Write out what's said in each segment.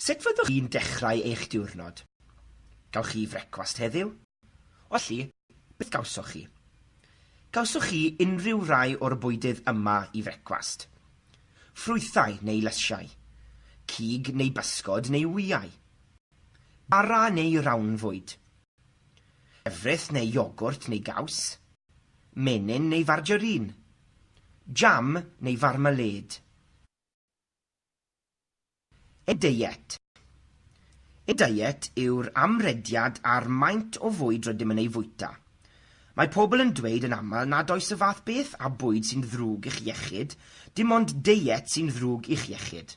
Sut fyddwch chi'n dechrau eich diwrnod? Gawch chi frecwast heddiw? Os felly, beth gawsoch chi? Gawsoch chi unrhyw rai o'r bwydydd yma i frecwast? ffrwythau neu lysiau, cig neu bysgod neu wyau, bara neu rawn fwyd, llefrith neu iogwrt neu gaws, menyn neu farjarin, jam neu farmalêd. Y deiet. Y deiet yw'r amrediad ar maint o fwyd rydym yn ei fwyta. Mae pobl yn dweud yn aml nad oes y fath beth â bwyd sy'n ddrwg i'ch iechyd, dim ond deiet sy'n ddrwg i'ch iechyd.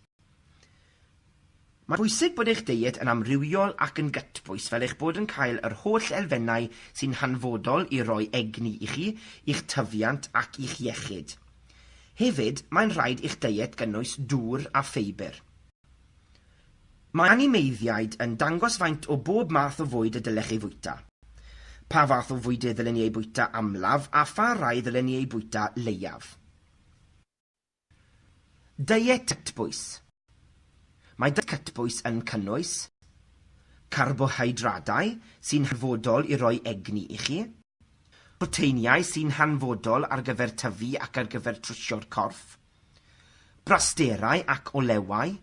Mae'n bwysig bod eich deiet yn amrywiol ac yn gytbwys fel eich bod yn cael yr holl elfennau sy'n hanfodol i roi egni i chi, i'ch tyfiant ac i'ch iechyd. Hefyd, mae'n rhaid i'ch deiet gynnwys dŵr a ffeibr. Mae animeiddiaid yn dangos faint o bob math o fwyd y dylech ei fwyta. Pa fath o fwydydd ddylen ni eu bwyta amlaf a pha rai ddylen ni eu bwyta leiaf. Deiet Cytbwys. Mae diet cytbwys yn cynnwys carbohydradau sy'n hanfodol i roi egni i chi, proteiniau sy'n hanfodol ar gyfer tyfu ac ar gyfer trwsio'r corff, brasterau ac olewau,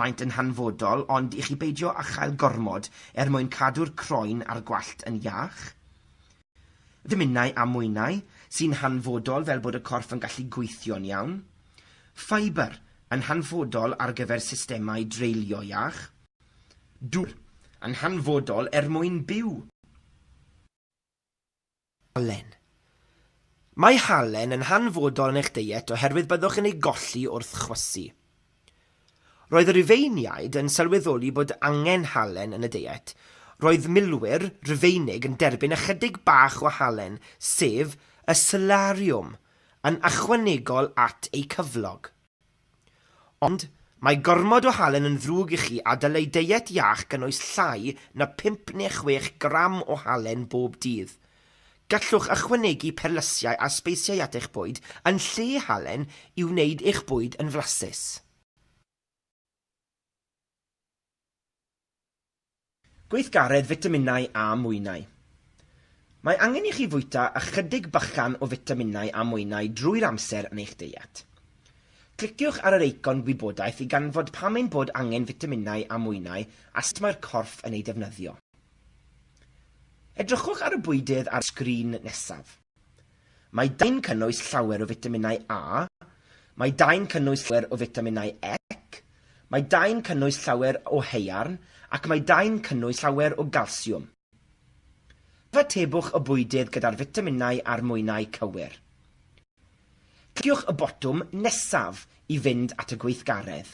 maent yn hanfodol ond i chi beidio â chael gormod er mwyn cadw'r croen a'r gwallt yn iach. Ddominau a mwynau, sy'n hanfodol fel bod y corff yn gallu gweithio'n iawn. Ffeibr, yn hanfodol ar gyfer systemau dreulio iach. Dŵr, yn hanfodol er mwyn byw. Halen. Mae halen yn hanfodol yn eich deiet oherwydd byddwch yn ei golli wrth chwysu. Roedd y Rhufeiniaid yn sylweddoli bod angen halen yn y deiet. Roedd milwyr Rhufeinig yn derbyn ychydig bach o halen, sef y salarium, yn ychwanegol at eu cyflog. Ond, mae gormod o halen yn ddrwg i chi a dylai deiet iach gynnwys llai na phump neu chwech gram o halen bob dydd. Gallwch ychwanegu perlysiau a sbeisiau at eich bwyd yn lle halen i wneud eich bwyd yn flasus. Gweithgaredd fitaminau a mwynau Mae angen i chi fwyta ychydig bychan o fitaminau a mwynau drwy'r amser yn eich deiet. Cliciwch ar yr eicon gwybodaeth i ganfod pam ein bod angen fitaminau a mwynau a sut mae'r corff yn eu defnyddio. Edrychwch ar y bwydydd ar y sgrin nesaf. Mae dai'n cynnwys llawer o fitaminau A, mae dai'n cynnwys llawer o fitaminau E, mae dai'n cynnwys llawer o haearn ac mae dai'n cynnwys llawer o galsiwm. Cyfatebwch y bwydydd gyda'r fitaminau a'r mwynau cywir. Cliciwch y botwm nesaf i fynd at y gweithgaredd.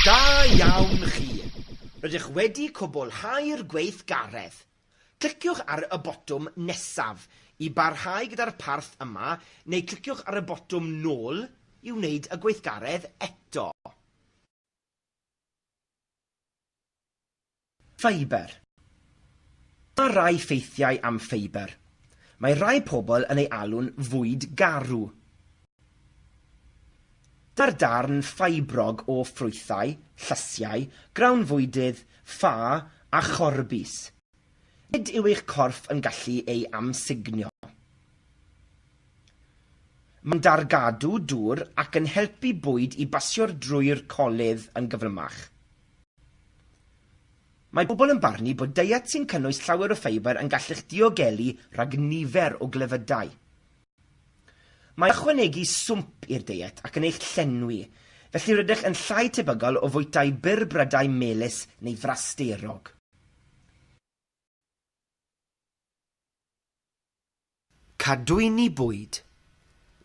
Da iawn chi. Rydych wedi cwblhau'r gweithgaredd. Cliciwch ar y botwm nesaf i barhau gyda'r parth yma neu cliciwch ar y botwm nôl i wneud y gweithgaredd eto. Ffeibr. Mae rhai ffeithiau am ffeibr. Mae rhai pobl yn ei alw'n fwyd garw. Dyw'r darn ffeibrog o ffrwythau, llysiau, grawn fwydydd, ffa a chorbis. Nid yw eich corff yn gallu ei amsugno. Mae'n dargadw dŵr ac yn helpu bwyd i basio'r drwy'r colydd yn gyflymach. Mae pobl yn barnu bod deiet sy'n cynnwys llawer o ffeibr yn gallu'ch diogelu rhag nifer o glefydau. Mae ychwanegu swmp i'r deiet ac yn eich llenwi, felly rydych yn llai tebygol o fwytau byr brydau melys neu frasterog. Cadwyni bwyd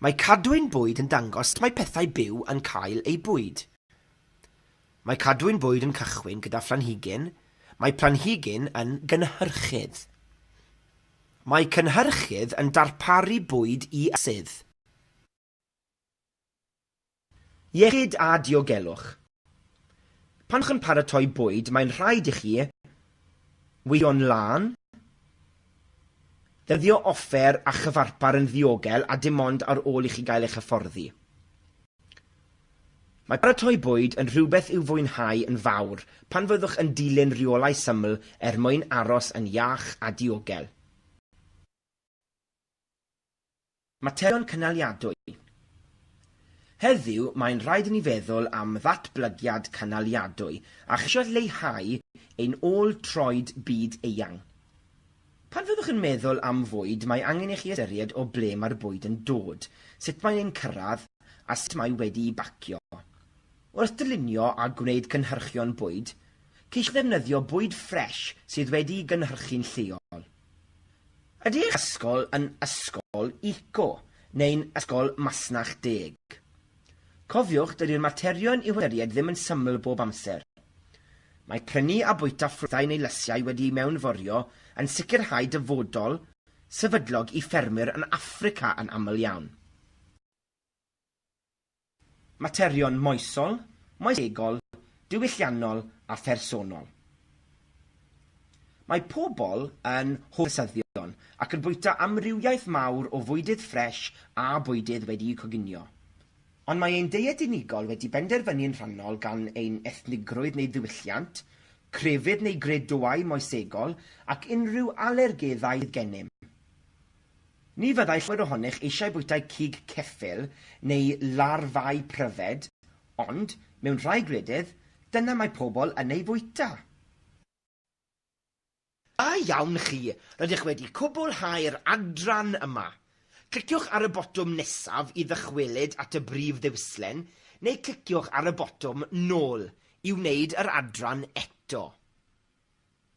Mae cadwyn bwyd yn dangos sut mae pethau byw yn cael eu bwyd. Mae cadwyn bwyd yn cychwyn gyda phlanhigyn, mae planhigyn yn gynhyrchydd. Mae cynhyrchydd yn darparu bwyd i sydd. Iechyd a diogelwch. Pan chi'n paratoi bwyd mae'n rhaid i chi weithio'n lân, defnyddio offer a chyfarpar yn ddiogel a dim ond ar ôl i chi gael eich hyfforddi. Mae paratoi bwyd yn rhywbeth i'w fwynhau yn fawr pan fyddwch yn dilyn rheolau syml er mwyn aros yn iach a diogel. Materion Cynaliadwy Heddiw mae'n rhaid i ni feddwl am ddatblygiad cynaliadwy a cheisio lleihau ein ôl troed byd eang. Pan fyddwch yn meddwl am fwyd mae angen i chi ystyried o ble mae'r bwyd yn dod, sut mae e'n cyrraedd a sut mae wedi'i bacio. Wrth dylunio a gwneud cynhyrchion bwyd, ceisiwch ddefnyddio bwyd ffres sydd wedi'i gynhyrchu'n lleol. Ydy eich ysgol yn ysgol eco neu'n ysgol masnach deg? Cofiwch, dydi'r materion i'w hystyried ddim yn syml bob amser. Mae prynu a bwyta ffrwythau neu lysiau wedi'u mewnforio yn sicrhau dyfodol sefydlog i ffermwyr yn Affrica yn aml iawn. Materion moesol, moesegol, diwylliannol a phersonol. Mae pobl yn hoff o syddion ac yn bwyta amrywiaeth mawr o fwydydd ffres a bwydydd wedi'u coginio. Ond mae ein deiet unigol wedi benderfynu yn rhannol gan ein ethnigrwydd neu ddiwylliant, crefydd neu gredoau moesegol ac unrhyw alergeddau sydd gennym. Ni fyddai llawer ohonych eisiau bwytai cig ceffyl neu larfâu pryfed, ond, mewn rhai gwledydd, dyna mae pobl yn eu bwyta. Da iawn chi, rydych wedi cwblhau'r adran yma. Cliciwch ar y botwm nesaf i ddychwelyd at y brif ddewislen, neu cliciwch ar y botwm 'Nôl' i wneud yr adran eto.